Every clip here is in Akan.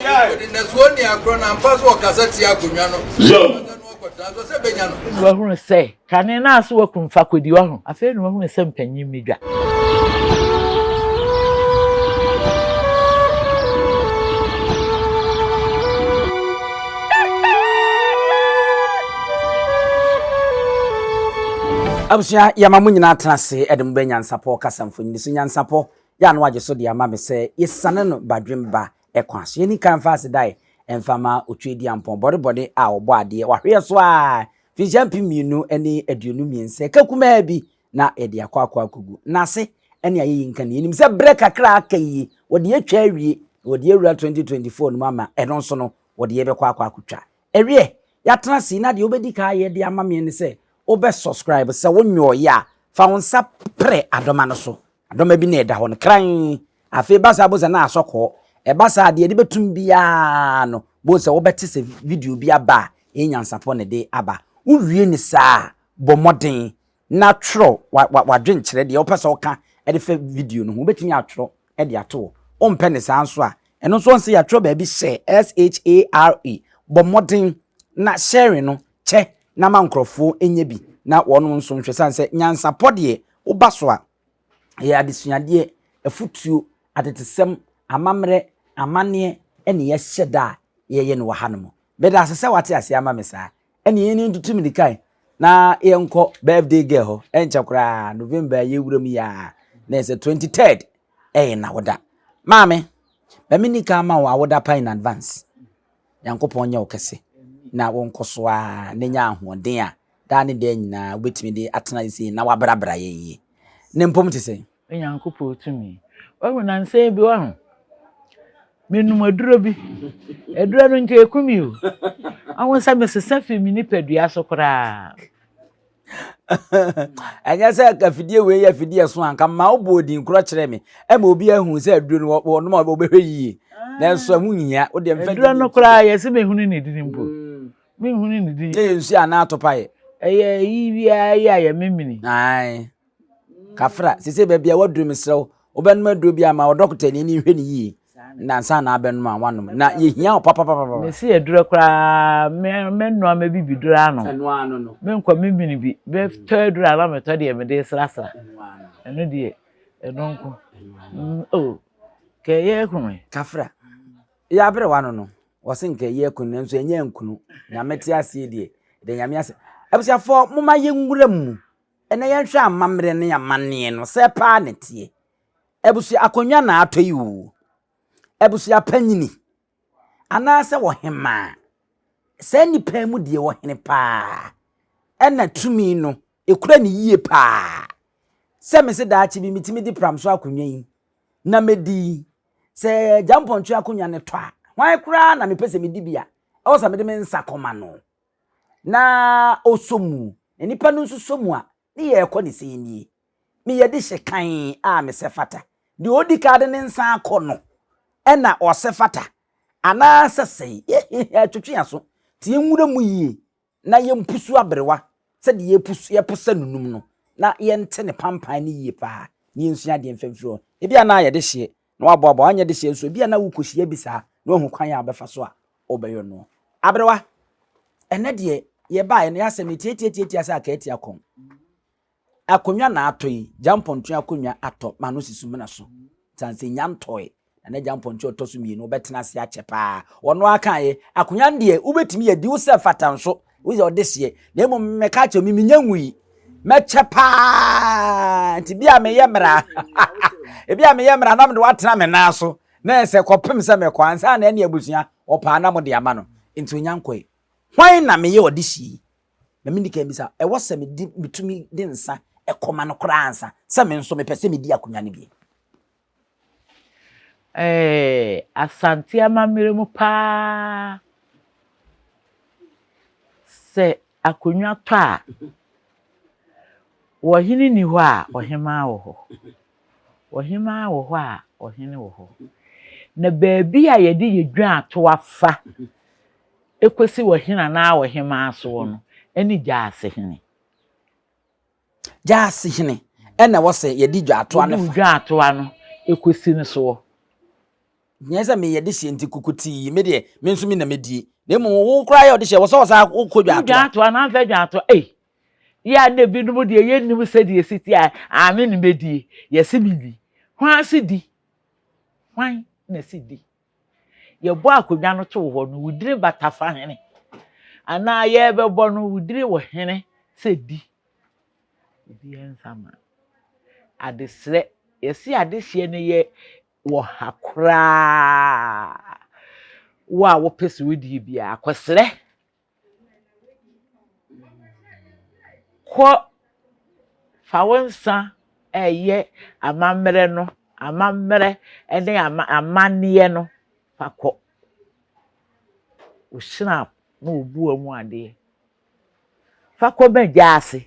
Afei na wahunu sɛ kane no a so wakum fakodi wɔ ho. Afei na wahunu sɛ mpanyin mi dwa. Abusua yɛma mo nyinaa tena ase ɛde mo bɛ nyansapɔ kasa mfonyini so nyansapɔ yɛ ano agye so de ama me sɛ yɛsane no badwemba ɛkwa so. Yɛnni kan mfa asedae mfa ma Otweaduampɔn, bɔdebɔde a wɔbɔ adeɛ, wɔahweɛ so ara, mfinhyia mpem mmienu ne aduonu mmiɛnsa, ɛka kumaa bi na yɛde akɔ akɔ akɔgu n'ase ne ayeyi nka no. Yɛnim sɛ berɛ kakra a aka yi, wɔde atwa awie, na wɔde awura 2024 no mu ama ɛno nso no, wɔde yɛbɛkɔ akɔ akɔtwa. Ɛwiɛ, yɛatena sei na deɛ wobɛdi kan ayɛ de ama me ne sɛ wobɛ subscribe, sɛ wonyɔeɛ a, fa wo nsa prɛ adɔma no so Adɔma bi na ɛda hɔ no kran. Afei ba saa bo sɛ na asɔ kɔɔ. Ɛba saa deɛ ɛde bɛtum biara no, bo sɛ wobɛte sɛ video bi aba a ɛyɛ nyansapɔ na ɛde aba. Wowie no saa a, bɔ mmɔden na twerɛ w'adwenkyerɛ, deɛ wopɛ sɛ woka de fa video no ho. Wobɛtumi atwerɛ de ato hɔ. Wompɛ no saa nso a, ɛno nso wɔn sɛ yɛatwerɛ baabi share, S-H-A-R-E. Bɔ mmɔden na sharing no kyɛ na ma nkorɔfoɔ nyɛ bi na wɔnom nso nhwɛ sane sɛ nyansapɔ deɛ woba so a ɛyɛ adesuadeɛ, afutuo, atetesɛm, amammerɛ, amaneɛ ɛne yɛhyɛ da a yɛyɛ no wɔ ha nom. Medaase sɛ wate aseɛ ama me saa. Ɛne yɛn ntutu mmirikae na yɛnkɔ birthday girl hɔ. Ɛnkyɛ koraa November a yɛwura mu yi a na ɛsɛ 23rd ɛyɛ n'awoda. Maame, ma menni kan ma wo awoda pa in advance. Nyankopɔn nyɛ wo kɛse na wo nkɔ so ara na nya ahoɔden a daa ne daa nyinaa wobɛtumi de atena ase yie na woabrabra yɛn yie no mpom te sɛn? Onyankopɔn tumi. Wahu nansa yi bi wahu. Menom aduro bi. Aduro no nka ɛku me o. Wahu sɛ mesesa firi me nipadua so koraa. ɛnyɛ sɛ afidie wei yɛ afidie ɛso anka ma wobɔ odin korɔ kyerɛ me ɛma obi ahu sɛ aduro no wɔnom a wɔbɛhwɛ yie ah. nanso ɛho nyia wodeɛ mfa aduro no koraa yɛse mehunu ne dini mpo mm. menhunu ne dini yɛ nsuo anaa atopaeɛ ɛyɛ yi biara yɛ a yɛmemene Kafra, sesei baabi a woaduru mesrɛ wo, wobɛnom aduro bi ama wo dɔkotani ani nhwɛ no yie na ansa na abɛnom a woanom. Na yɛhia wo papapapapa. Mese aduro koraa, mɛnoa mɛbibi duro anom. Menkɔ memene bi, mɛtɔ aduro a na metɔ deɛ mede resrasra. Ɛno deɛ, ɛno nko. Oh, kɛ yɛ aku me. Kafra, yɛ abere w'ano no. Wɔse nka yɛ aku no nanso ɛnyɛ ankunu. Nyame te aseɛ deɛ, yɛda Nyame ase. Abusuafoɔ, momma yɛnwura mu. Ɛnɛ yɛnhwɛ amammerɛ ne amanneɛ no, sɛɛ paa na ɛteɛ. Abusua akonnwa na atɔ yi oo, abusua panyini anaasɛ ɔhemaa, saa nnipa yi mu deɛ ɔhene paa ɛna tumi no ɛkura ne yie paa. Sɛ mese daakye bi metumi de pram so akonnwa yi na mɛdi, sɛ gyampɔntwe akonnwa no tɔ a, hwan koraa na mepɛ sɛ medi bi a, ɛwɔ sɛ mede me nsa kɔma no. Na ɔsɔ mu, na nnipa no nso sɔ mu a, ne yɛ ɛkɔ ne sɛn nie? Me yɛ de hyɛ kann a me sɛ fata. Deɛ ɔdi kan de ne nsa akɔ no ɛna ɔsɛ fata. Anaa sɛ sɛn? Yɛ hehe twetwe aso, te yɛ nwura mu yie na yɛ mpusu aberewa sɛ deɛ yɛ pusu, yɛ posa nunum no, na yɛ nte ne pampan no yie paa, na yɛ nsua adeɛ mfa mfiri hɔ. Ebia na yɛ de hyeɛ na wɔaboaboa anyɛ dehyeɛ nso ebi a na wokɔhyia bi saa na wahu kwan a ɔbɛfa so a ɔbɛyɔ noɔ aberewa ɛnɛ deɛ yɛbaeɛ no yɛasɛ me tiatiatiatia sɛ akaati akɔn akonnwa na atɔ yi gya mpɔntoa akonnwa atɔ ma no sisu mena so tan sɛ nya ntɔe na ne gya mpɔntoa ɔtɔ so mmienu ɔbɛtena ase akyɛ paa ɔno akaeɛ akonnwa deɛ wobɛtumi yɛ di wo sɛ fata nso wo yɛ ɔdeseɛ na mmom mɛka kyerɛ me menya ngu yi mɛkyɛ paa nti bi a meyɛ mmara ebi a meyɛ mmara na mede watena me nan so na ɛsɛ kɔpem sɛ mɛkɔ ansa na ɛne abusua ɔpaa na mode ama no nti onya nkɔe hwan na meyɛ ɔde si yi na mendi kan bisa ɛwɔ sɛ medi metumi de nsa ɛkɔma no koraa ansa sɛ me nso mepɛ sɛ medi akonnwa no bi Ɛɛ Asante amammerɛ mu paa, sɛ akonnwa tɔ a, ɔhene nni hɔ a, ɔhemmaa wɔ hɔ. Ɔhemmaa wɔ hɔ a, ɔhene wɔ hɔ. Na baabi a yɛde yɛ dwaato afa kɔsi ɔhene anaa ɔhemmaa soɔ no, ɛne gyaasehene. Gyaase hene ɛna ɛwɔ sɛ yɛde dwaatoa no fa. Yɛde dwaatoa no ɛkɔsi no soɔ. Nyɛ sɛ meyɛ de hyeɛ nti kukutii me deɛ me nso me na mɛdie. Na mmom wo koraa yɛ ɔde hyeɛ wɔ sɛ ɔsaa wokɔ dwaatoa. Dwaatoa no amfa dwaatoa ei. Yɛ a na ebinom deɛ yɛnnim sɛdeɛ ɛsi teɛ a me na mɛdie. Yɛse me ni. Hwan se di? Hwan na se di? Yɛbɔ akonnwa no too hɔ no, wo dire bata fa hene. Anaa yɛrebɛbɔ no, wo dire wɔ hene sɛ di. Obiara nsa ma. Adesrɛ, yɛse adehyeɛ no yɛ wɔ ha koraa. Wo a wopɛ sɛ wodie biara, kɔsrɛ. Kɔ, fa wo nsa reyɛ amammerɛ no, amammerɛ ne ama amanneɛ no, fa kɔ. Wohyira wo na wobu wo mu adeɛ. Fa kɔ m'Agya ase.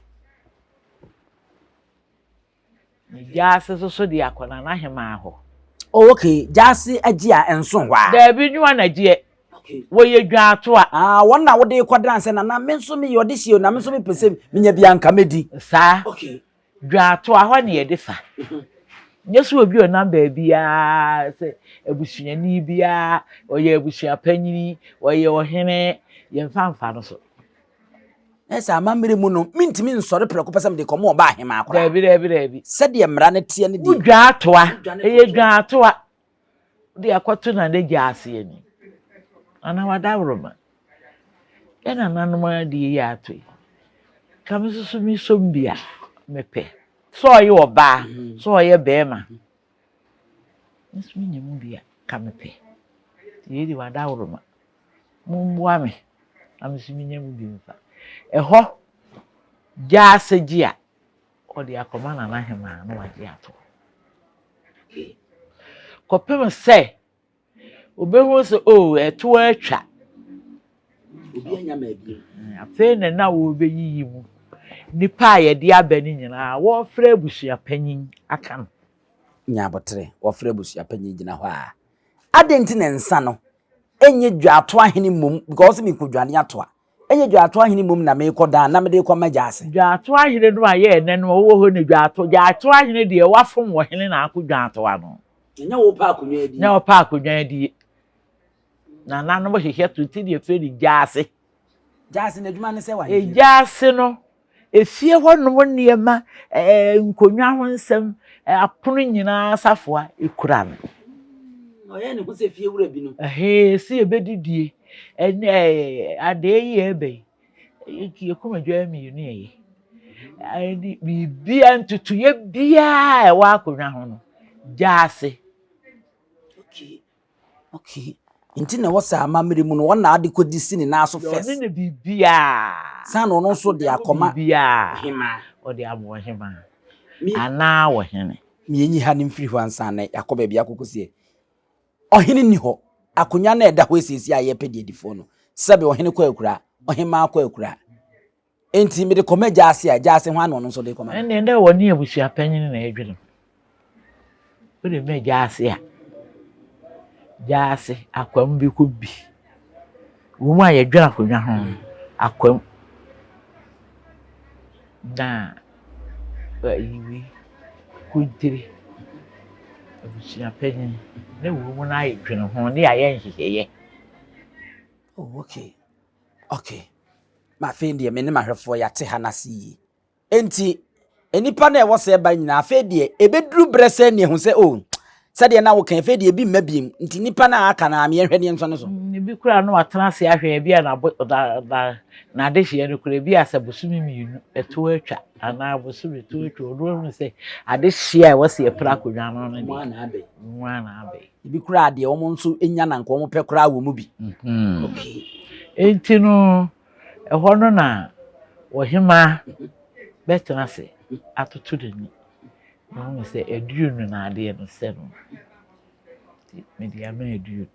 Na gyaase so so de akɔ Nana Hemaa hɔ. Oh ok, gyaase agye a ɛnso hɔ a? Daabi, nwoa na gyeɛ. Ok. Wɔyɛ dwaatoa. Ah, wɔn na wode rekɔ dan sɛ Nana me nso meyɛ ɔde hyeɛ o, na me nso mepɛ sɛ menya bi a anka mɛdi. Saa. Ok. Dwaatoa hɔ na yɛde sa. Nyɛ sɛ obi a ɔnam baabiara sɛ abusuani biara, ɔyɛ abusuapanyini, ɔyɛ ɔhene, yɛmfa mfa no so. Na ɛsɛ amammerɛ mu no, mentumi nsɔre prɛko pɛ sɛ mede kɔmɔ ɔba ahemaa koraa. Daabi, daabi, daabi. Sɛdeɛ mmara no teɛ ne deɛ. Wodwa atoa. Ɛyɛ dwa atoa. Wode akɔto na ne gya ase ani. Anaa wadaworoma. Yɛn nananom ara de yei ato yi. Ka me nso so mesɔ mu bi a, mepɛ. Sɛ ɔyɛ ɔbaa, sɛ ɔyɛ barima. Nso me nya mu bi a ka me pɛ. Yei de wada woroma. Mo mboa me na me nso me nya mu bi mfa. Ɛhɔ gya asɛ gye a ɔde akɔma nana hemaa na wagye ato. Kɔpem sɛ. Obehu sɛ, O, ɛtoɔ atwa. Obi anya me abiem. Afei na na wɔrebeyiyi mu nnipa a yɛde aba no nyinaa, wɔrefrɛ abusuapanyin aka no. Nya abotere, wɔrefrɛ abusuapanyin gyina hɔ a. Adɛn nti na nsa no nyɛ dwatoa hene mmom? Because ɔse, Mekodwane atoa. Ɛnyɛ Dwaato Ahene mmom na merekɔ daa na mede rekɔ m'Agya ase. Dwaato Ahene no a ɛyɛ ɛnnɛ no, ɔwɔ hɔ nnɛ. Dwaato, Dwaato Ahene deɛ, wafom wɔ hene na ako Dwaato ano. Ɛnyɛ wo pɛ akonnwa adie. Ɛnyɛ wo pɛ akonnwa adie. Nananom hwehwɛ to nti na yɛfrɛ no Gyaase. Gyaase, n'adwuma ne sɛ w'ahedeɛ. Gyaase no, Efie hɔnom nneɛma, ɛɛ, nkonnwa ho nsɛm, apono nyinaa safoa kura no. Ɔyɛ ne ho sɛ fie wura bi no. Ɛhee, si ebedidie. Ɛne ɛɛ, adee yi ɛbɛn. Yɛ kumadwa mmienu ɛyɛ. Ɛne biribiara ntutuiɛ biara a ɛwɔ akonnwa ho no, gya ase. Okay. Okay. Nti na ɛwɔ sɛ amammerɛ mu no wɔn na ade kɔdi si ne nan so first. Ɔno ne biribiara. San na ɔno nso de akɔma. Biribiara. Ɔde ama ɔhemaa. Anaa ɔhene. Mmienyi ha no mfiri hɔ ansa na yɛakɔ baabi akɔkɔsie. Ɔhene nni hɔ. Akonnwa no a ɛda hɔ esiesie a yɛpɛ deɛ di fo no. Sɛbe ɔhene kɔ akuraa, ɔhemaa kɔ akuraa. Enti mede kɔma gyaase a, gyaase hwan na ɔno nso de kɔma no? Ɛnneɛ dɛ wɔne abusua panyin na ɛredwene mu. Wode ma gyaase a, gyaase akwam bi kɔ bi. Wɔ mu a yɛdwene akonnwa ho no, akwam. Na ayi wei, kontire, abusua panyin, na wɔ mu no ayɛ dwene ho, ne ayɛ nhyehyɛeɛ. Oh, okay. Okay. Na afei deɛ me ne m'ahwɛfoɔ yɛate ha no ase yie. Enti, nnipa no a ɛwɔ sɛ ɛba nyinaa, afei deɛ ɛbɛduru berɛ sɛ ne ɛhu sɛ, o, oh, sɛdeɛ na woka afei deɛ ebi mma biem. Nti nnipa no a aka no a meɛhwɛ ne nso no so. Mm, ebi koraa no atena ase ahwɛ, ebi a n'adehyeɛ no koraa, ebi a sɛ bosome mmienu ɛto atwa anaa bosome ɛto atwa, ɔno ahunu sɛ adehyeɛ a ɛwɔ sɛ yɛpra akonnwa no no deɛ, mmoa na abɛn. Ebi koraa deɛ wɔn nso nya na nka wɔn pɛ koraa wɔ mu bi. Enti no, ɛhɔ no na ɔhemaa bɛtena ase atoto n'ani. Ɔhunu sɛ aduo no na adeɛ no sɛ no. Nti mede ama aduo no.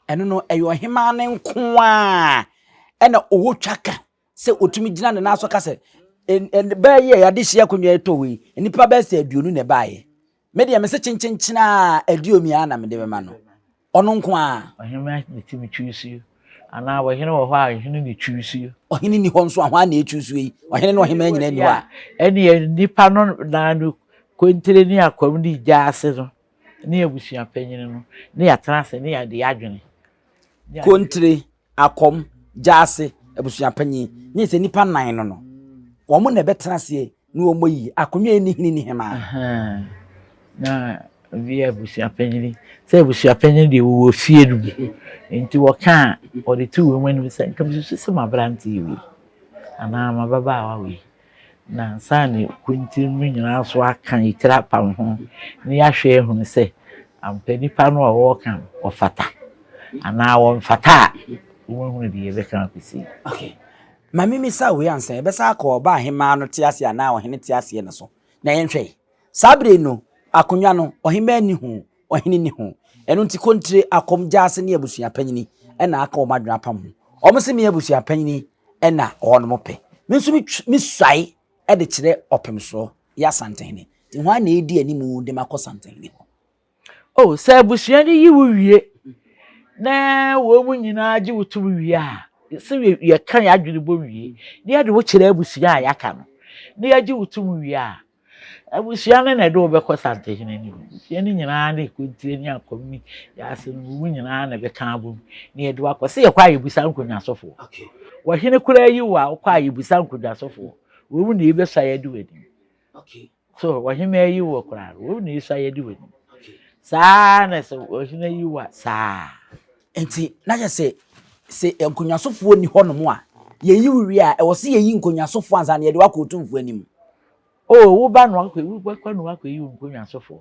Ɛno no, ɛyɛ ɔhemaa no nko ara na ɔwɔ twaka. sɛ ɔtumi gyina ne nan so ka sɛ bɛɛ yi a yɛade hyia akonnwa yi tɔ wei nnipa bɛɛ sɛ aduonu na ɛbaeɛ me deɛ me se kyenkyenkyen a aduomi a na mede bɛma no ɔno nko a ɔhene ne ti me twusuo anaa ɔhene wɔ hɔ a ɔhene ne twusuo ɔhene ni hɔ nso a hɔ a na ɛtwusuo yi ɔhene ne ɔhema nyina ni hɔ a ɛneɛ nnipa no naa no kontere ne akwam ne gya ase no ne abusua panyini no ne yɛatena ase ne yɛde adwene kontere Akɔm, Gyaase, Abusuapanyin, nye sɛ nnipa nnan no no, wɔn na ɛbɛtena aseɛ ne wɔn ayi akonnwa yi ne hene ne hemmaa. Ahaa, na ebi yɛ abusuapanyin, sɛ abusuapanyin deɛ wɔwɔ fie no mu, nti wɔka a, wɔde to wɔn anim sɛ, nka mesusu sɛ m'aberante wei anaa m'ababaawa wei. Na ansa na ekuntun no nyinaa so aka etiri apam ho na yɛahwɛ ahunu sɛ ampa nipa no a wɔreka no ɔfata anaa wɔmfata a, wɔahunu deɛ yɛbɛka akɔsi. Okay. Ma memmisa wei ansa yɛbɛsa akɔ ɔbaa hemaa no te aseɛ anaa ɔhene te aseɛ no so na yɛnhwɛ. Saa bere no, akonnwa no, ɔhemaa nni ho, ɔhene nni ho. Ɛno nti Kontire, Akom, Gyasi ne abusua panyini na aka wɔn adwene apam ho. Wɔn se me abusua panyini na wɔnom pɛ. Me nso me suae de kyerɛ Ɔpemsoɔ, yɛ Asantehene. Nti hwan na edi animu de me akɔ Santehene hɔ? Oh, sɛ abusua no yi wo wie na wɔn nyinaa gye wo tom wie a, sɛ yɛka yɛn adwene bɔ wie na yɛde wo kyerɛ abusua a yɛaka no na yɛgye wo tom wie a, Abusua no na ɛde wo bɛkɔ Santehene no bi. Abusua no nyinaa ne kontire ne akɔm ne yaase no mu nyinaa na ɛbɛka abom na yɛde wo akɔ. Se yɛkɔ a yɛbisa nkonnwa sofoɔ. Wɔ hene koraa yi wo a, wokɔ a yɛbisa nkonnwa sofoɔ. Wei mu na yɛbɛsua yɛde wo anim. So wɔ hene yi wo koraa no, wei mu na yɛsua yɛde wo anim. Saa ara na sɛ wɔ hene yi wo a, saa ara. Enti na kyerɛ sɛ, sɛ nkonnwa sofoɔ nni hɔnom a, yɛyi wo wie a, ɛwɔ se yɛyi nkonnwa sofoɔ ansa na yɛde wo akɔ otumfoɔ anim. Oh, wo ba no akɔ, wo ba kwa no akɔ yi nkonnwa sofoɔ.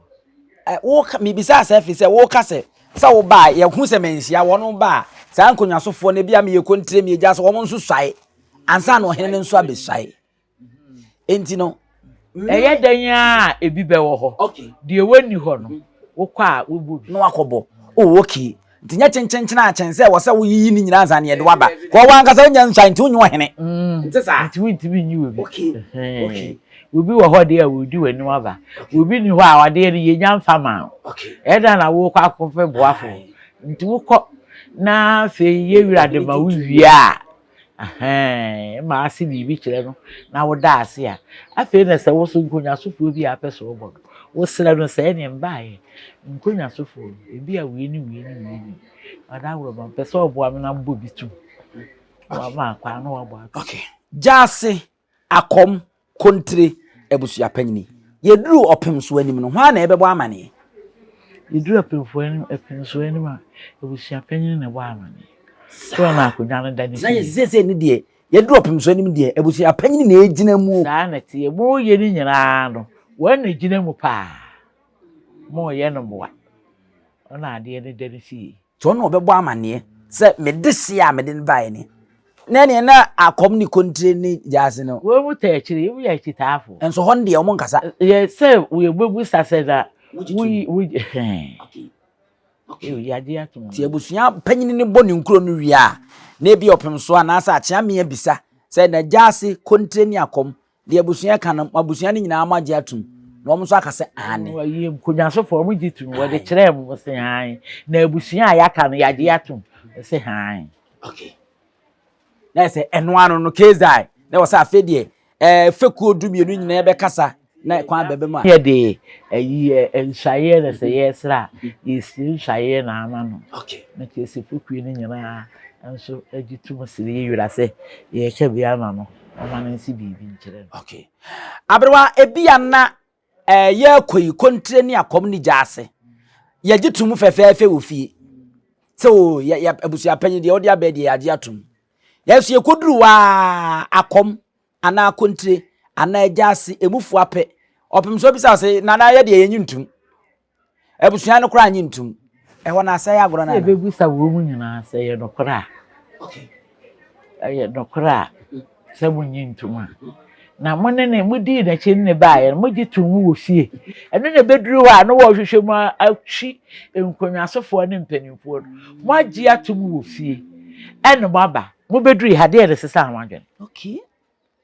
Eh, wo ka, mi bisa sɛ fi sɛ wo ka sɛ, sɛ wo ba a, yɛ hu sɛ manhyia wɔn ba a, saa nkonnwa sofoɔ no ebi a mi yɛ kontire mi egya sɛ wɔn nso suae, ansa na ɔhene no nso abesuae. Enti no, ɛyɛ dɛn a ebi bɛwɔ hɔ, deɛ wɔnni hɔ no, wokɔ a wobɔ bi. Na wakɔbɔ. Oh, okay. Nti nyɛ kyenkyenkyen ara kyɛn sɛ wɔsɛ woyiyi ne nyinaa ansa na yɛde wo aba. Kɔ w'ankasa wonya nsuae nti wonyɛ ɔhene. Ɛnte saa? Nti wontumi nyi obi. Ɛhɛɛ. Obi wɔ hɔ deɛ a ɔredi w'anim aba. Obi nni hɔ a ɔdeɛ no yɛnya mfa mma no. Ɛdan na worekɔ akɔpɛ boafoɔ. Nti wokɔ na afei yɛn wura de ma wo wie a. Ahaa, ma ase biribi kyerɛ no na woda ase a, afei na sɛ wo so nkɔnwasofoɔ bi a apɛ sɛ ɔbɔ no, wosrɛ no sɛ ɛneɛ mbaeɛ, nkɔnwasofoɔ no, ebi a wei ne wei ne wei ne ɔda agorɔ ma mpɛ sɛ ɔboa me na mbɔ bi tom. Na wama akwan na wabɔ ato. Okay. Gyaase Akɔm, Kontire, Abusua Panyin. Yɛduru ɔpemsoɔ anim no, hwan na ɛbɛbɔ amaneɛ? Yɛduru ɔpemfoɔ anim, ɔpemsoɔ anim a, abusua panyin na ɛbɔ amaneɛ. Soɔ na akonnwa no da ne fie. Na yɛsi seesei no deɛ, yɛduru ɔpemsoɔ anim deɛ, abusua panyin na ɛgyina mu. Saa na ɛteɛ. Moreyɛ no nyinaa no, wɔn na ɛgyina mu paa. Moreyɛ no mmoa. Wɔn na adeɛ no da ne fie. Nti ɔno na ɔbɛbɔ amanneɛ sɛ me dehyeɛ a mede no baeɛ ni, ne deɛ na akɔm ne kontire ne gyaase no. Wei mu ta akyire yi, woyɛ akyitaafo. Nso hɔ no deɛ wɔn nkasa. Yɛ sɛ yɛbɛbusa sɛ na woyi woyi hɛn. Ew yagye ato mu. Nti abusua panyin no bɔ ne nkuro no wie a, na ebi ɔpem so anaasɛ akyea mmea bisa sɛ na gyaase, kontire ne akɔm Deɛ abusua ka no, abusua no nyinaa moagye atom, na wɔn nso aka sɛ aane. Wɔyɛ nkonyasofo, wɔn gye tom, wɔde kyerɛɛ mu, wɔse hann. Na abusua a yɛaka no, yɛagye atom, wɔse hann. Okay. Na yɛ sɛ ɛno ano no, Kezae, na wɔ sɛ afei deɛ ɛɛ fekuo du mmienu nyinaa bɛkasa na kwan bɛbɛ mu a. Yɛde ayi nsuaeɛ na sɛ yɛresra a, yɛsiri nsuaeɛ na ama no. Okay. Na kyerɛ sɛ fekuo no nyinaa nso gye tom siri yɛ wura sɛ yɛreka bi ama no. Momma no nsi biribi nkyerɛ no. Okay. Aberewa, ebia na eh, yɛrekɔ yi kontire ne akɔm ne gya ase. Yɛgye to mu fɛfɛɛfɛ wɔ fie. Sɛ o, oh, yɛ, yɛ abusuapanyin deɛ ɔde abɛɛ deɛ yɛagye atom. Yɛnso yɛkɔduru waa akɔm anaa kontire anaa gya ase, emufoɔ apɛ. Ɔpem sɛ ɔbisa sɛ, nana yɛ deɛ yɛnyi ntom. Abusua no koraa nye ntom. Ɛhɔ no asɛe agorɔ no anaa? Yɛbɛbisa wei mu nyinaa sɛ ɛyɛ nokorɛ a. Ɛyɛ nokorɛ a sɛ monnye ntom a. Na mo ne ne modii n'akyi ne ne baeɛ no mogye too mu wɔ fie. Ɛno na ɛbɛduru hɔ a na wɔrehwehwɛ mu atwi nkonnwasofoɔ ne mpanimfoɔ no. Moagye atom wɔ fie ɛna moaba. Mobɛdurui ha deɛ na ɛsesa ho adwene.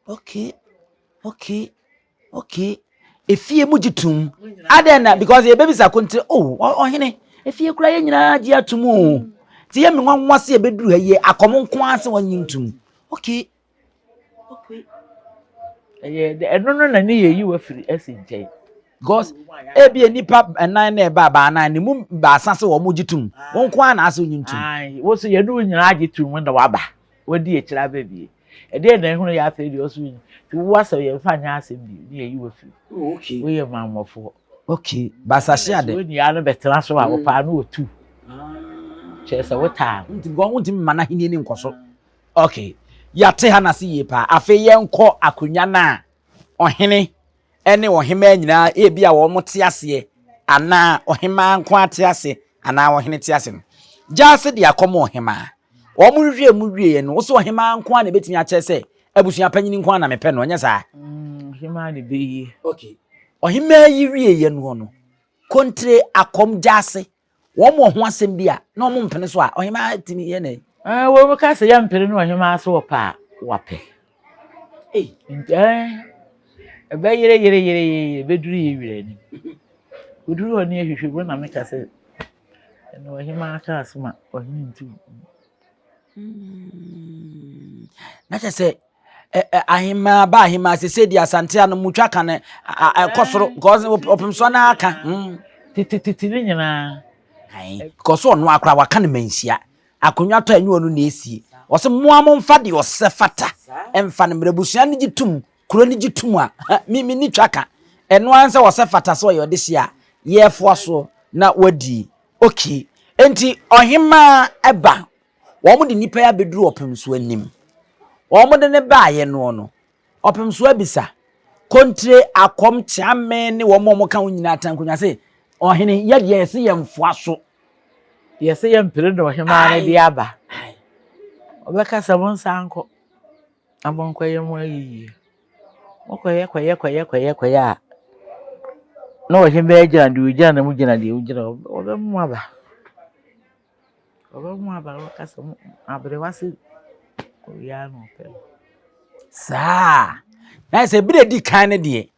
Okay, okay, okay. Efie mu gye tom. Adɛn na because yɛbɛbisa ko nti oh ɔhene efie kura yɛn nyinaa gye atom o. Nti yɛ me nwanwa se yɛbɛduru ha yɛ akɔm nko ara sɛ wɔnye ntom. Okay. Okay. Ɛyɛ dɛ ɛno no na ne yɛ yi wafiri ɛsi nkyɛn. Because ebi nipa nnan na ɛba baanan ne mu baasa sɛ wɔn gye tom. Wɔn nko ara na asɛ wɔnye ntom. Ayi, wɔsɛ yɛn ne nyinaa gye tom na waba. Wadi akyire abɛ bie. Ɛdeɛn na ɛhono yɛ afei deɛ ɔso yi ti wo asɛm yɛ nfa nyɛ asɛm bio ne yɛ yi wɔ firi oh, okay. wo yɛ mammɔfoɔ okay basahye ade wo nia no bɛtena so a mm. wɔpaa no wɔ tu ah. kyerɛ sɛ wotaa no nti bɔn wontumi ma no ahenni ne nkɔso okay yɛate ha no ase yie paa afei yɛnkɔ akonnwa no a ɔhene ne ɔhemmaa nyinaa, ebi a wɔn te aseɛ, anaa ɔhemmaa nko ara te ase, anaa ɔhene te ase no, gyaa ase de akɔm ɔhemmaa. Wɔn hwehwɛɛ mu wieɛ no, wosɛ ɔhemmaa nko ara na ebetumi akyerɛ sɛ abusua panyin nko ara na mepɛ no, ɛnyɛ saa? Ɔhemmaa na ebeye. Okay. Ɔhemmaa yi wieɛ noɔ no, Kontre akɔm gyaa ase. wɔn wɔ ho asɛm bi a na wɔn mpene so a ɔhemaa tumi yɛ nɛ. ɛɛ wɔn ka sɛ yɛ mpene no ɔhemaa so wɔ paa wapɛ ɛɛ ɛbɛ yere yere yere yere bɛduru yɛ wira anim oduru hɔ ne ahwehwɛ mu na meka sɛ ɛna ɔhemaa ka asoma ɔhene nti. Hmm. na kyɛ sɛ ahemaa ba ahemaa sɛ sɛdi asante ano mu twa kan ɛkɔ soro because ɔpem so na aka hmm. titititi ne nyinaa because ɔno akora waka ne manhyia akonnwa tɔ ɛnyɛ ɔno na esie ɔsɛ mmoa mo mfa deɛ ɔsɛ fata ɛmfa no mmerɛ abusua no gye tum kuro no gye tum a me me ni twa ka ɛno ara sɛ ɔsɛ fata sɛ ɔyɛ ɔde hyia yɛfoa so na wadi oki nti ɔhemaa ɛba Wɔde nnipa yi abɛduru ɔpemsoɔ anim. Wɔde no baeɛ noɔ no, ɔpemsoɔ abisa, Kontire, Akɔm, Kyeame ne wɔn a wɔka ho nyinaa Tankonwa se, Ɔhene, yɛ deɛ yɛse yɛmfoa so. Yɛse yɛmpere deɛ ɔhemaa no de aba. Ɔbɛka sɛ, Monsan nkɔ na monkɔyɛ mo ayiyie. Mokɔyɛ kɔyɛ kɔyɛ kɔyɛ kɔyɛ a, na ɔhemaa gyina deɛ ɔgyina na mogyina deɛ mogyina, wɔbɛma mo aba. Ɔbɛhu abayewa no ɔkasa mu aberewa sɛ owia na ɔpɛ no. Saa. Na sɛ bere di kan no deɛ,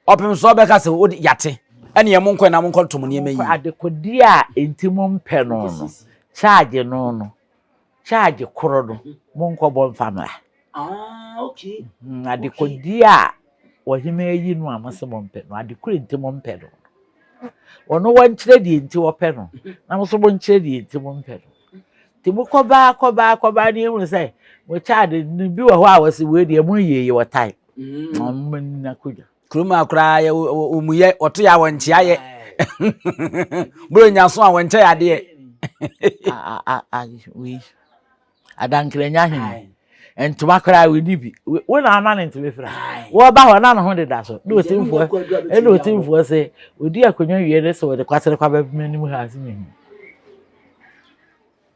ɔpem so ɔbɛka sɛ wode yate. Ɛne ɛmo nkɔ na mo nkɔ tom nneɛma yi. Adekode a enti mo mpɛ no no, charge no no, charge koro no, mo nkɔ bɔ mfa mmra. Ah, okay. Mm, adekodi a wɔhene ayi no a mose mompɛ no adekoro nti mompɛ no ɔno wɔnkyerɛ deɛ nti wɔpɛ no na mo so monkyerɛ deɛ nti mompɛ no nti mokɔbaa kɔbaa kɔbaa ne ɛhunu sɛ mo child no bi wɔ hɔ a wɔse wei deɛ mo yie yi wɔtae ɔmna kodwa kurom a koraa yɛ wɔmuyɛ wɔto yɛ a wɔnkyea yɛ borɔ nyaso a wɔnkyɛ yɛ adeɛ wei adankerɛnya he ntoma koraa wodi bi wo na ama ne ntoma fira wɔba hɔ na ne ho deda so na otimfoɔ ɛna otimfoɔ sɛ odi akonnwa wie ne sɛ wɔde kwasere kwa bɛbɛm anim ha ase ne mu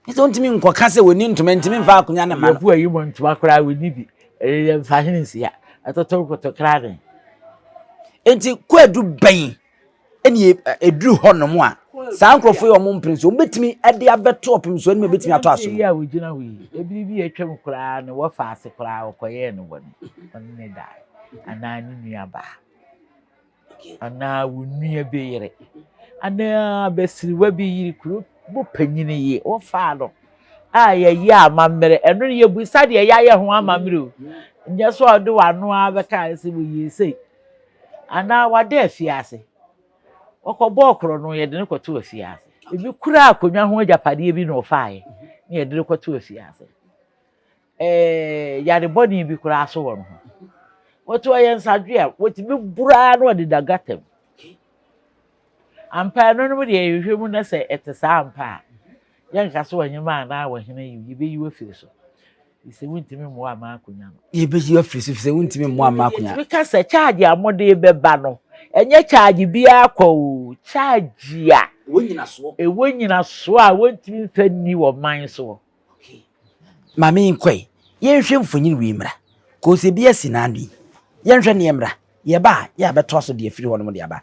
ɛsɛ ntumi nkɔka sɛ wɔni ntoma ntumi mfa akonnwa ne ma no yɛbu ayi mu ntoma koraa wodi bi ɛyɛ mfa hene nsia ɛtoto nkoto kra ne enti kwadu bɛn ɛne ɛduru hɔ nom a saa nkurɔfoɔ yi wɔn mpene so wɔbɛtumi de abɛto ɔpem so anim ɛbɛtumi atɔ aso yi a wɔgyina hɔ yi ebiri bi atwam koraa no wɔfa ase koraa wɔkɔyɛɛ no bɔne ɔne ne dae anaa ne nua baa anaa wo nua bi yere anaa basiriwa bi yiri kuro bo panyin yi wɔfaa no a yɛyɛ amammerɛ ɛno no yɛbisa deɛ yɛayɛ ho amammerɛ o nyɛ sɛ ɔde w'ano ara bɛka sɛ wɔyɛ sei anaa wada afiase. Ɔkɔbɔɔ koro no, yɛde no kɔtoo afiase. Ebi kura akonnwa ho agyapadeɛ bi na ɔfaeɛ na yɛde no kɔtoo afiase. Ɛɛ yare bɔne bi koraa so wɔ ne ho. Wɔte ɔyɛ nsadwe a wɔtumi buraa na ɔde da gata mu. Ampa ɛno nom deɛ yɛhwɛ mu na sɛ ɛte saa ampa a, yɛnka sɛ ɔhemaa anaa ɔhene yi, yɛbɛyi wo afiri so. Sɛ wontumi mmoa ama akonnwa no. Yɛbɛyi afiri so sɛ wontumi mmoa ama akonnwa. Yɛtumi ka sɛ kyaagye a mode bɛba no, ɛnyɛ kyaagye biara kwa o, kyaagye a ɛwɔ nyinasoɔ a wɔntumi mfa nni wɔ man soɔ. Maame nkɔe, yɛnhwɛ mfonyin wei mmra. Kɔɔ sɛ bi asi n'ano yi. Yɛnhwɛ ne yɛmmra. Yɛba a, yɛ a bɛtoa so de afiri hɔnom de aba.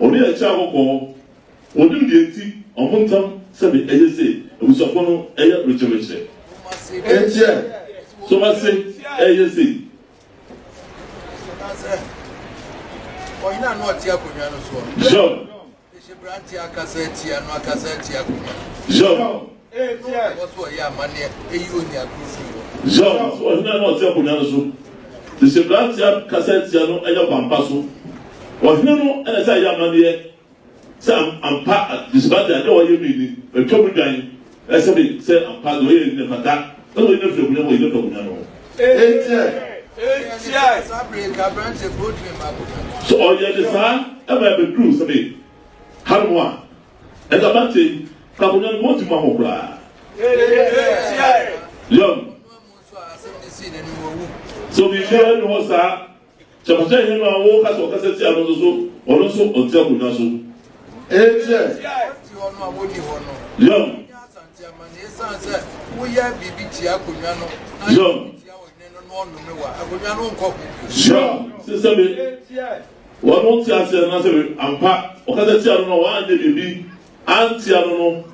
Ɔne yɛn kyɛɛ hɔ kɔɔ. Wɔnim deɛ nti wɔn ntam sɛdeɛ ɛyɛ sɛ abusuafoɔ no yɛ rekyerɛkyerɛ. Nkyɛ so ma se ɛyɛ sei. John. John. Zhao, ɔhene a na ɔte akonnwa no so de hyɛ mmeranteɛ kasa atia no anya ɔkwampa so. Ɔhene no na ɛsɛ sɛ ɛyɛ amanneɛ sɛ ampa Vishvati ade a ɔyɛ no nni, watwa mu dwan, na ɛsɛ de sɛ ampa deɛ ɔyɛeɛ no nni, ɛfata sɛ wɔyi no firi akonnwa mu, wɔyi no firi akonnwa no so. Sɛ ɔyɛ no saa ma ɛbɛduru sɛbe hanom a, Ɛda Mate ka mo nyame wɔn ti ma mo koraa. Yɔn. So biribiara nni hɔ saa kyɛmakyɛ hene no a wo kasa ɔkasa tia no nso so ɔno nso ɔnte akonnwa so. Ɛkyɛ. Yɔn. Yɔn. Sure sesɛ me. Wɔn ntease anna sɛ me ampa. Wɔkasa tia no na wɔanyɛ biribi antia no no,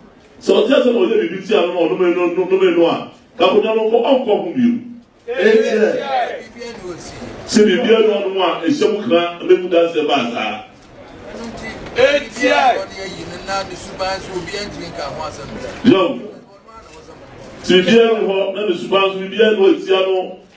sɛ ɔte ase na ɔyɛ biribi tia no na ɔnome no nome no a, ka akonwa no nkɔ, ɔnkɔ ho bio. Enkyɛ sɛ biribi anu ɔno a ɛhyɛ mu kra na emu danseɛ baa saa. Yoh. Sɛ biribi anu hɔ na ne suban nso biribi anu antia no.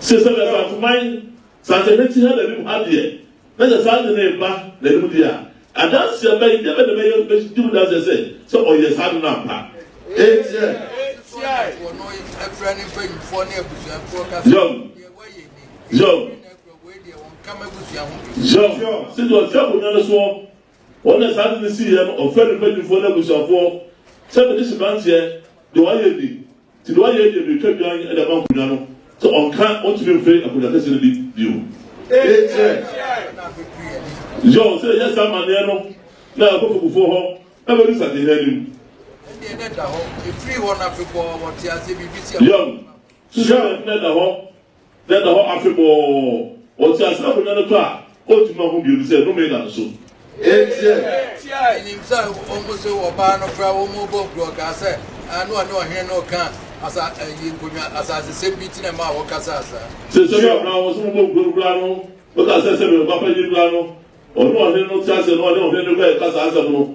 Sɛ sɛ bɛfa akuman sase hwɛ ti ha na nim ha deɛ na sɛ saa ade no reba na nim deɛ a adanse a bɛyi deɛ bɛ na bɛyɛ bɛ di mu danseɛ sɛ sɛ ɔyɛ saa ade no ampa enti ɛ Zɛw zɛw zɛw sɛdeɛ ɔte abonnwa no soɔ Wɔn a saa ade no siiɛ no ɔfrɛɛ ne mpanimfoɔ ne abusuafoɔ sɛ mede hyɛ branteɛ deɛ wayɛ ni, nti deɛ wayɛ nie meretwa dwan de ama nkonnwa no sɛ ɔnka ɔntumi mfiri akonnwa kɛseɛ no bi bio. Ei kyerɛ John sɛ yɛyɛ saa amanneɛ no na yɛakɔ fagufoɔ hɔ abɛdu sankehene anim. John susuo sɛ ɛfunu da hɔ na ɛda hɔ afebɔɔ, ɔte ase na akonwa no tɔ a, ontumi ma ho bio no sɛ nnome da no so. Enti minim sɛ wɔn nso wɔ ɔbaa no koraa, wɔbɔ gurɔ kaa sɛ na ɔne ɔhene no reka asa ayi nkonnwa asasesɛm bi ti na ɛmaa wɔkasaa saa. Sɛ sɛ yɛ ɔbaa wɔn nso wɔbɔ gurɔ no koraa no, wɔka sɛ sɛ bɛn ɔbaa panyin koraa no, ɔne ɔhene no te ase na ɔne ɔhene no kɔ ɛka saa asɛm no,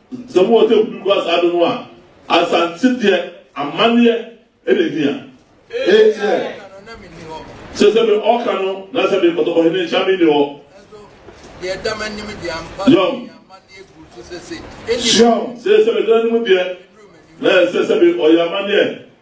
Sɛ mowɔ table kura saa do no a, Asantse deɛ amanneɛ na ehia. Etsiɛ. Sɛ sɛ me ɔka no na sɛ me kɔtɔkɔ hene nhyɛ a me nni hɔ. Yom. Syeom. Sɛ sɛ me dɔ anim deɛ na ɛsɛ sɛ me ɔyɛ amanneɛ.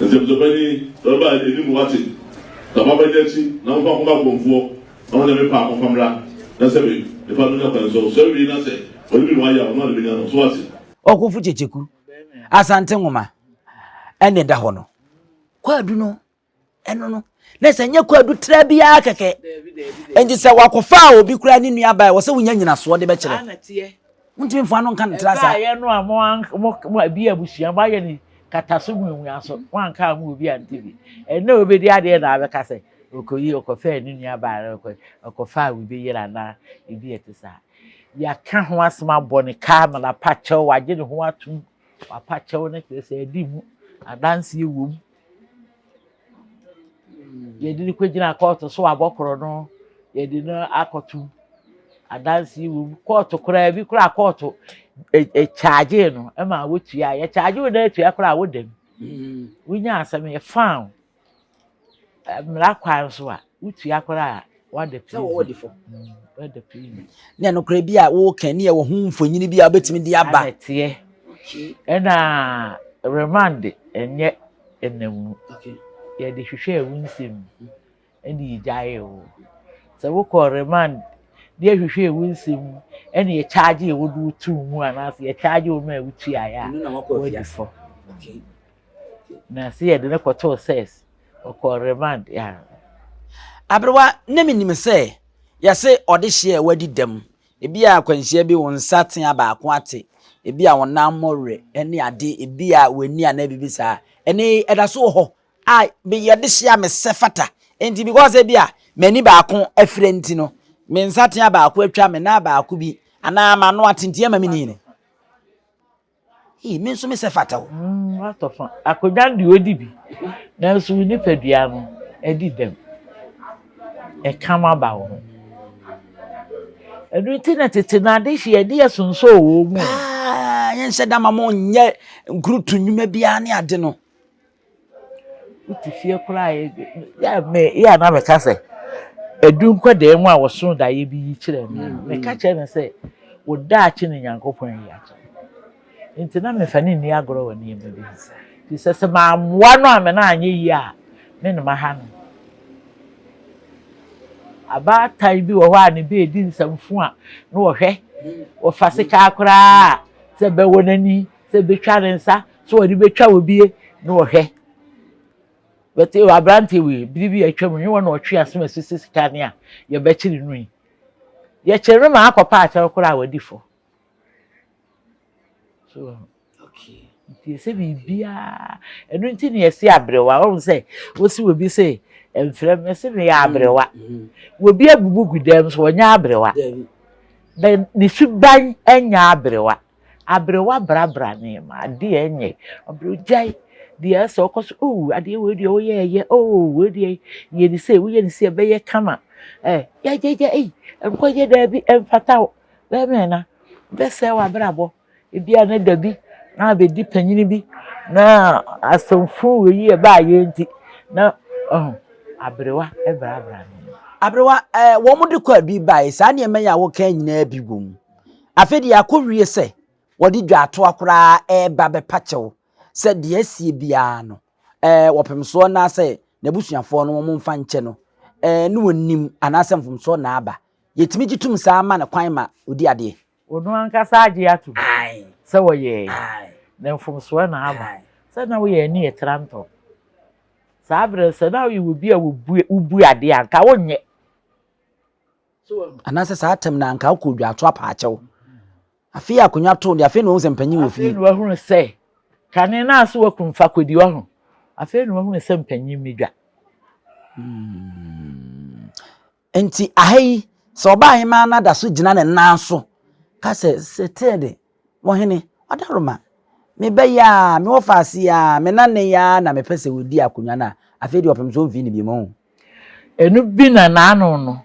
Nsɛmtɔbɛ ni, Bɛba anim wate, na ɔba bɛda akyi, na momfa nkɔma akorɔmfoɔ, na wɔn a mepɛ a wɔmfa mmra, na sɛ me nipa no nya kwan nso, ɔsɔre wie na sɛ ɔde bi na wayɛ a, ɔno ara na ɛbɛnya no. So woate? Ɔkofo Kyekyeku, Asante nwoma ɛna ɛda hɔ no, kwaadu no, ɛno no. na sɛ nyɛ kwadu tra bi ara kɛkɛ nti sɛ wakɔfa a obi koraa ne nua baa wɔ sɛ wonya nyinasoɔ de bɛkyerɛ wontumi mfa no nka no tra saa ɛyɛ no a mo mo ebi abusua mo ayɛ ne kataso mu enwia so mo anka mo obi ante bi ɛnna obedi adeɛ na abɛka sɛ okoyi ɔkɔfɛ ne nua baa na ɔkɔ ɔkɔfa a obi yere anaa ebi ɛte saa yɛaka ho asɛm abɔ ne kaa ma n'apakyɛw wagye ne ho atum wapakyɛw ne kyerɛ sɛ ɛdi mu adanseɛ wom Yɛde no kɔgyina kɔɔto so abɔ korɔno, yɛde no akɔto adanse wom. Kɔɔto koraa bi koraa kɔɔto kyaagye no ma wotua. Yɛkyaagye wo na atua koraa a woda mu. Mm. Wonya asɛm yɛ faaw. Mmara kwan so a wotua koraa sɛ wɔwɔ ɔdefo ne nokorɛ bi a woka ne ɛwɔ ho mfonyini bi a wobɛtumi de aba ɛteɛ ɛna remand ɛnyɛ ɛnam mu yɛde hwehwɛ ɛwo nsɛm mu ɛne yɛgyaeɛ wo sɛ wokɔ remand ne yɛhwehwɛ ɛwo nsɛm mu ɛne yɛkyaagye ɛwo de wotu mu anaasɛ yɛkyaagye wo ma ɛwo tuaeɛ a wɔadi fɔ Na se yɛde no kɔtoo SIRS, ɔkɔɔ remand, yeah. Aberewa, na menim sɛ yɛse ɔdehyeɛ a wadi dɛm, ebia akwanhyia bi wo nsa tea baako ate, ebia wo nan mmɔ werɛ ne ade, ebia w'ani anaa biribi saa. Ɛnnɛ yi ɛda so wɔ hɔ a meyɛ dehyeɛ a mesɛ fata nti because ebia m'ani baako afira nti no, me nsa tea baako atwa, me nan baako bi anaa m'ano atentea ma menni yini. Ei, me nso mesɛ fata o. Mm, woatɔ fa. Akonnwa no deɛ ɔdi bi, nanso wo nipadua no adi dɛm. Ɛka ma ba wo ho. Ɛno nti na tete no adehye yɛde yɛ sonsɔɔ wɔ mu. Paa, yɛnsɛ da ma mo nyɛ nkurutu nnwuma biara ne ade no. Wote fie koraa a, yɛ a me yɛ a na meka sɛ, Adu nkwadaa mu a wɔsoo daeɛ bi yi kyerɛ me a, meka kyerɛ no sɛ, Wo daakye na Onyankopɔn ayi akyerɛ wo. Enti na memfa no nni agorɔ wɔ nneɛma bi ho. Ɛfiri sɛ, sɛ mammoa no a me nan anyɛ yie a, me na maha no. Abaatan bi wɔ hɔ a ne ba redi nsɛmfo a, na ɔhwɛ, ɔfa sekaa koraa sɛ ɛbɛwɔ n'ani, sɛ ɛbɛtwa ne nsa, So wɔde betwa wo bie na wɔhwɛ. But ewa aberanteɛ wei bere bi a atwa mu hewa na ɔtwe aso ma sisi sika ne a yɛbɛkyere no yi. Yɛkyere no ma akɔpa akyɛw koraa a wadi fɔ. So okay. Nti ɛsɛ biribiara ɛno nti na yɛsi aberewa wɔn sɛ wosi wɔ bi sɛ mfrɛ me sɛ meyɛ aberewa. Wɔ bi abubu gu dɛm so wɔnyɛ aberewa. Bɛ ne suban nyɛ aberewa. Abre w'abrabra nneɛma, adeɛ nyɛ, abre gyae deɛ asɛ ɔkɔ so, oh adeɛ wei deɛ woyɛ ɛyɛ, oh wei deɛ yɛ ne sei, woyɛ ne sei ɛbɛyɛ kama, eh gyagyaga ei nkɔyɛ daabi ɛmfata wo, bɛmɛ na bɛsɛe w'abrabɔ, ebi a na dabi na abɛdi panyin bi na asɛmfo wei yi ɛbaa yɛ nti na ɔho abrewa ɛbrabra nneɛma. Abrewa, eh wɔn de kɔ abi bae, saa nneɛma yi a woka nyinaa bi wɔ mu. Afei deɛ akɔwie sɛ wɔde dwaatoa koraa reba bɛpa kyɛw sɛ deɛ asie biara no ɛɛ wɔpemsoɔ naasɛ n'abusuafoɔ no wɔn mfa nkyɛ no ɛɛ ne wɔn nim anaasɛ mfomsoɔ na aba. Yɛtumi gye tom saa ma no kwan ma ɔdi adeɛ. Ɔno ankasa agye atom sɛ wɔyɛɛe na mfomsoɔ na aba. Sɛ na woyɛ ani ɛtra ntɔ saa berɛ no sɛ na woyɛ obi a wobue wobue adeɛ a nka wonyɛ. Anaasɛ saa tɛm no anka wokɔ odwato apaakyɛw. Afei akonnwa too de, afei na wɔn sɛ mpanyin wɔ fie. Afei na wahunu sɛ kane no ase wɔ kunu fakodi wɔ ho. Afei na wahunu sɛ mpanyin mi dwa. Hmm. Nti aha yi, sɛ ɔbaa hemaa no ada so gyina ne nan so, ka sɛ, sɛ tee de. Mo hene, Ɔdaroma, meba yi ara, mewɔ faase yi ara, me na nnɛ yi ara na mepɛ sɛ wɔdi akonnwa no a, afei deɛ ɔpem sɛ ɔmfii no bio mom. Ɛno bi na n'ano no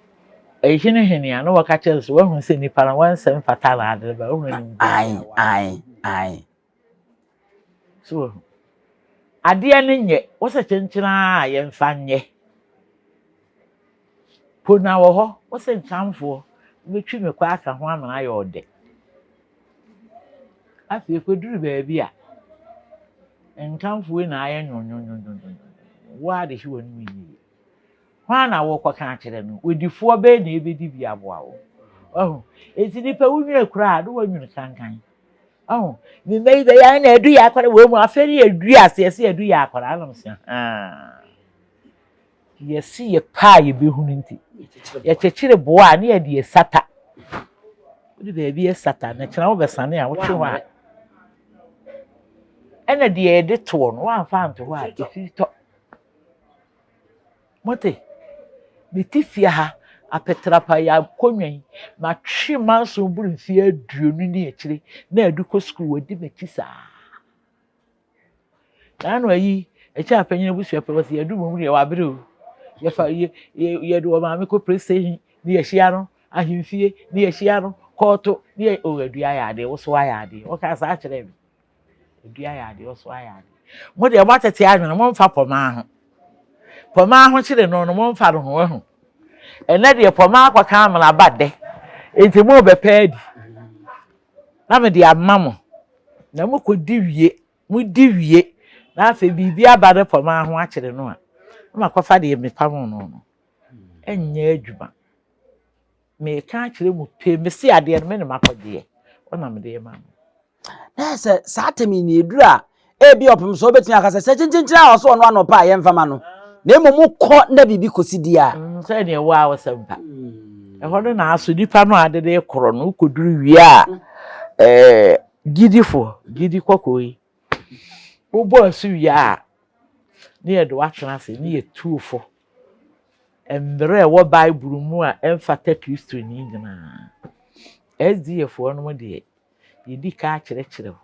ɛhenehenee a, na wɔka kyerɛ no sɛ, Woahunu sɛ nnipa no, wɔn nsɛm fata na ade reba, wohunu animguaseɛ a wɔayɛ. Ae, ae, ae. So wahu? Adeɛ no nyɛ, wo sɛ kyenkyen ara a, yɛmfa nyɛ. Po na wɔ hɔ, wo sentanfoɔ, wobɛtwi me kɔ aka ho amena ayɛ ɔdɛ. Afei ɛkɔduru baabi a, ntanfoɔ yi na ayɛ nwonwonwonwonwonwon, wo ara de hye w'anom yie. Hwan na worekɔka akyerɛ no? W'adifoɔ bɛn na ɛbɛdi bi aboa wo? Wahu? Enti nipa wunwene koraa a, na woanwene kankan. Wahu? Me mma yi bɛyɛ a na adu yɛ akwadaa wɔ mu, afei ne yɛdui aseɛ sɛ yɛadu yɛ akwadaa, na mesɛ haa. Yɛse yɛpɛ a yɛbɛhunu nti. Yɛkyekyere boɔ a ne yɛde ɛsata. Wode baabi ɛsata na kyena wobɛsane a wotwe hɔ a. Ɛna deɛ yɛde toɔ no woamfa anto hɔ a ɛfiri tɔ. Mote? Mete fie ha apɛtrapa yɛ akonnwa yi matwe manso boro mfeɛ aduonu ne akyire na adu kɔ sukuu wɔdi m'akyi saa. Saa na ɔyi ɛkyɛ a panyin abusua pɛ wɔsi yɛdu mu deɛ wabere o yɛfa yɛ yɛ yɛde wɔ maame kɔ police station ne yɛhyia no ahemfie ne yɛhyia no kɔɔto ne yɛ o adua yɛ adeɛ woso ayɛ adeɛ ɔka saa kyerɛ me adua yɛ adeɛ ɔso ayɛ adeɛ mo deɛ mo atete anwene mo mfa pɔmaa ho pɔmaa ho kyerɛ no no mo mfa no ho ahu ɛnɛ deɛ pɔmaa akɔka amena ba dɛ nti mo bɛpɛ adi. na mede ama mo, na mokɔdi wie, modi wie, na afei biribi aba no pɔ maa ho akyere no a, na makɔfa deɛ mepamoo no no. Ɛnyɛ adwuma. Meka akyerɛ mu pee, mese adeɛ no me na makɔgyeɛ, wɔnam deɛ ma mo. Na sɛ saa tɛm yi na ɛduru a, Ebia ɔpem sɛ obetumi aka sɛ, Sɛ kyenkyenkyene a ɔsɔ ɔno ano pɛ a, yɛmfa ma no, na mmom kɔ na biribi kosi di a. Mm, sɛ nea ɛwɔ a ɔsɛm pa. Ɛhɔ no na aso nipa no a ade de korɔ no koduru wie a ɛɛ gyidifo gyidi kɔkɔɔ yi wobɔ asu wie a ne yɛde watena ase ne yɛtuo fo mmerɛ ɛwɔ Bible mu a ɛmfata Kristoni nyinaa. SDA foɔ no mu deɛ yɛdi ka akyerɛkyerɛ wo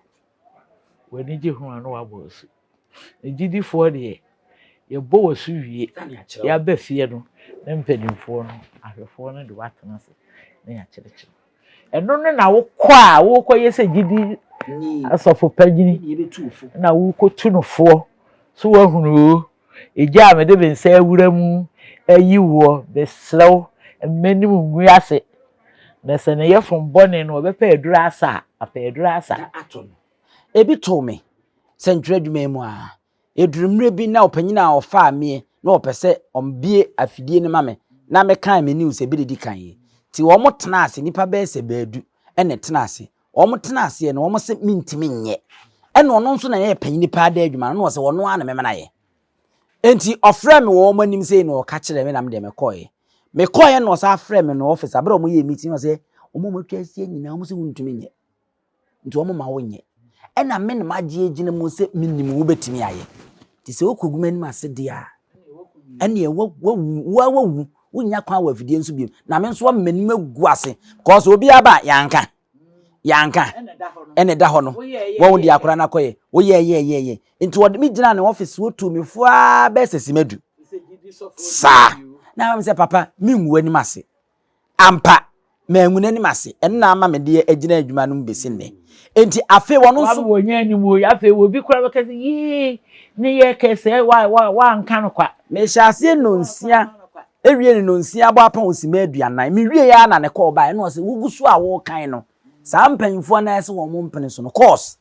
W'anigye ho a na wabɔ wo asu. Agyidifoɔ deɛ, yɛbɔ wo asu wie na yɛaba fie no na mpanimfoɔ no, ahwɛfoɔ no de wo atena ase na yɛakyerɛkyerɛ. Ɛno no na wokɔ a wokɔyɛ sɛ gyidi asɔfo panyin na wokɔtu no foɔ so wahunu o Agya a mede me nsa awura mu ayi woɔ, mesrɛ wo, mma m'anim ngu ase, na sɛ ne yafunu bɔne no wɔbɛpɛ aduru asa a, apɛ aduru asa. Na ato no. Ebi too me sɛntwerɛ adwuma yi mu a, ɛduru mmerɛ bi na ɔpanyin a ɔfaa meɛ na ɔpɛ sɛ ɔbue afidie no ma me na mekan me news a ɛbɛdidi kan yi. Nti wɔtenaa ase, nnipa bɛyɛ sɛ baadu na ɛtenaa ase, Wɔn tena aseɛ no wɔn se mentumi nyɛ. Ɛna ɔno nso na ɛyɛ panyini paa da adwuma no na ɔsɛ ɔno ara na mɛma no ayɛ. Enti ɔfrɛ me wɔ wɔn anim sei na ɔka kyerɛ me na medeɛ mekɔɛ. Mekɔɛ na ɔsan frɛ me no ɔfis abere a wɔn yɛ meeting ɔsɛ wɔn a wɔn atwa aseɛ nyinaa wɔn se wontumi nyɛ. Nti wɔn ma wonyɛ. Ɛna me na magye agyina mu sɛ menim wobɛtumi ayɛ. Nti sɛ wokɔgu m'anim ase deɛ a ɛneɛ wawu wawu Wonnya kwan wɔ afidie nso biom. Na me nso ama m'anim agu ase. Kɔɔ sɛ obiara ba yɛanka. Yɛanka. Ɛna ɛda hɔ no. Wɔn de akora no akɔyɛ. Woyɛ yɛ yɛ yɛ. Nti wɔde me gyina ne office wotu me fo ara bɛyɛ sɛ simadu. Saa. Na ama me sɛ papa mengu w'anim ase. Ampa Mangu n'anim ase. Ɛno na ama mede agyina adwuma no mu besi nnɛ. Enti afei wɔn nso. Wɔn wɔn yɛn anim oyi. Afei obi kura bɛka sɛ yee ne yɛ kɛse wa wa wa nka no kwa. Mehyɛ aseɛ nonsia ewie ne nonsia abɔ apɔn osima aduanan me wie yɛ na ne kɔɔ bae ɛna ɔsɛ wogu so a wɔrekan no saa mpanyinfoɔ nan ase wɔn mo mpene so no kɔɔs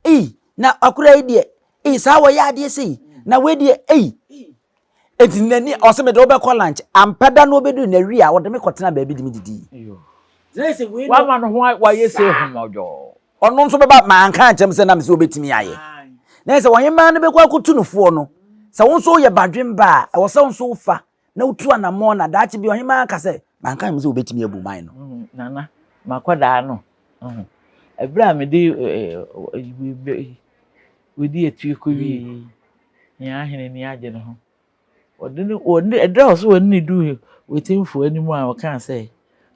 ei na akura yi deɛ ei saa wɔyɛ adeɛ sei na wei deɛ ei Enti n'ani ɔsɛ mede wobɛkɔ lunch. Ampa da no obedui na wie a ɔde me kɔtenaa baabi de me didi. Wama ne ho wayɛ sɛ ahomɔdwɔɔ. Ɔno nso bɛba ma anka ankyerɛ me sɛ na me sɛ obetumi ayɛ. Na ɛsɛ ɔhemaa no bɛkɔ akotu no foɔ no. Sɛ wo nso woyɛ badwemba a, ɛwɔ sɛ wo nso wofa na wotu anammɔn na daakye bi ɔhemaa aka sɛ manka ankyerɛ me sɛ obetumi abu man no. Nana, makɔdaa no. Ɛberɛ a mede Odi akyire kɔwiee yi, hia ara hene ani agye ne ho. Wɔde no, wɔne, ɛda wɔ so wɔne no duu Wetimfoɔ anim a ɔkaa sɛ,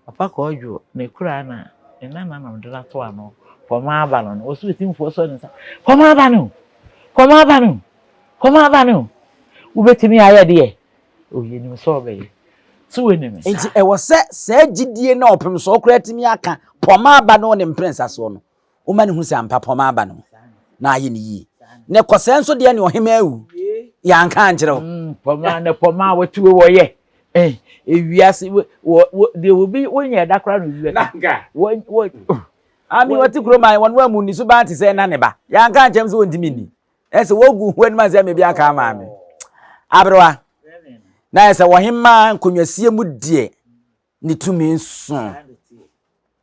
Papa Kwadwo, ne koraa na ne nananom de no ato ano, fam aba no no. Wɔ so Wetimfoɔ sɔ ne nsa, Fam aba no! Fam aba no! Fam aba no! Wobɛtumi ayɛ deɛ? O, yɛnim sɛ ɔbɛyɛ. So wonim saa? Enti ɛwɔ sɛ saa gyidie no a ɔpem soɔ koraa tumi aka, Fam aba no ne mprɛnsa soɔ no, Woma no hu sɛ ampa pɔma aba no na ayɛ no yie. Ne kɔsɛɛ nso deɛ ne ɔhemaa awu. Yɛanka ankyerɛ wo. Mm, pɔma ne pɔma a wɔte wei wɔyɛ. Eh, ewiase wɔ wɔ deɛ obi wonyɛ ɛda koraa na obi bɛka. Wɔ wɔ. Mm. Ami wɔte kurom a wɔn wɔn mu ni suban te sɛ ɛna ne ba. Yɛanka ankyerɛ m sɛ wɔntumi nni. Ɛsɛ wɔgu ho anim sɛ mebi aka ama me. Aberewa. Na ɛsɛ wɔhemmaa nkonnwasie mu deɛ ne tumi nso.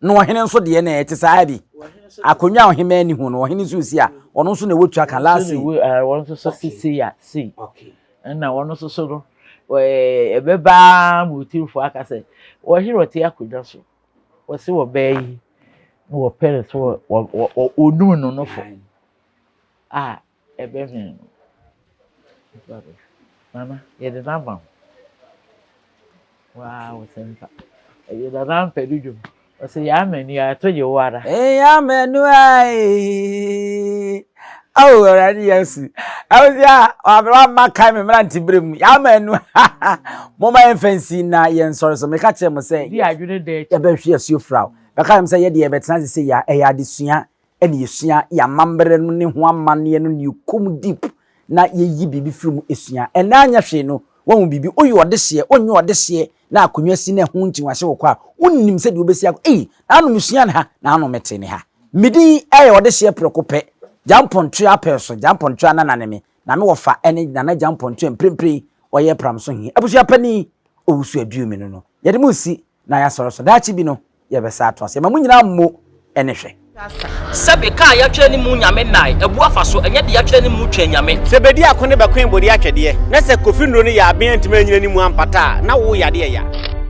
Na ɔhene nso deɛ na ɛte saa bi. Akonnwa a ɔhemmaa ni ho no, ɔhene nso si a, ɔno nso na ɛwɔ tua ka last week. Wɔn nso so sisi ya sei. Ɛna wɔn nso so no, ɛbɛbaa ma otumfoɔ aka sɛ, ɔhene ɔte akonnwa so, wɔsi wɔ bɛɛ yi, na wɔpɛ no so wɔ onum no no fo a Ɛbɛhwee no. Nnipa bɛhwee. Nana, yɛde no ama wo. Waa wo sɛmpa. Ɛyɛ Nana Ampadu dwom. Ɔsɛ yɛ amanu a ɛto gye wo ara. Ɛyɛ amanu a ee. Awo Awurade Yesu. Ɛwɔ sɛ a ɔabere wa ma kae me mmerante bere mu. Yɛ amanu ha ha. Mo ma yɛn fansi na yɛn nsɔre so. Me ka kyerɛ mo sɛ. Di adwene da akyi. Yɛbɛhwe asuo firaw. Bɛka yɛn sɛ yɛde yɛbɛtena ase sɛ yɛ a ɛyɛ adesua. na yesua yɛn amambra no ne ho amanneɛ no na yekom deep na yeyi biribi firi mu sua. Ɛnnɛ anyɛ hwee no, woahu biribi, woyɛ ɔdeseɛ, wonyɛ ɔdeseɛ, na akonnwa si na ɛho nti wahyɛ wo kɔ a, wonnim sɛdeɛ wobɛsi akɔ, ei, naano mesua ne ha, naano mete ne ha. Me din yɛ ɔdeseɛ prɛko pɛ, Gyampɔntoa Apɛɛso, Gyampɔntoa Nana ne me, na me wɔfa ne Nana Gyampɔntoa mprempren ɔyɛ Pramso he abusua panin, Owusu Aduomino no. Yɛde mo resi na yɛasɔre so. Daakye bi no, yɛbɛsan atoa so. Yɛma mo nyinaa mmo ne hwɛ. Sɛbe kaa yatwerɛ ne mu nyame nae abu afa so ɛnyɛ de yatwerɛ ne mu twɛn nyame. Sɛ bedi ako ne bɛkoe bodi atwɛdeɛ na sɛ Kofi Nnuro no yɛ aben antumi anyina ne mu ampata a na wo yade ɛya.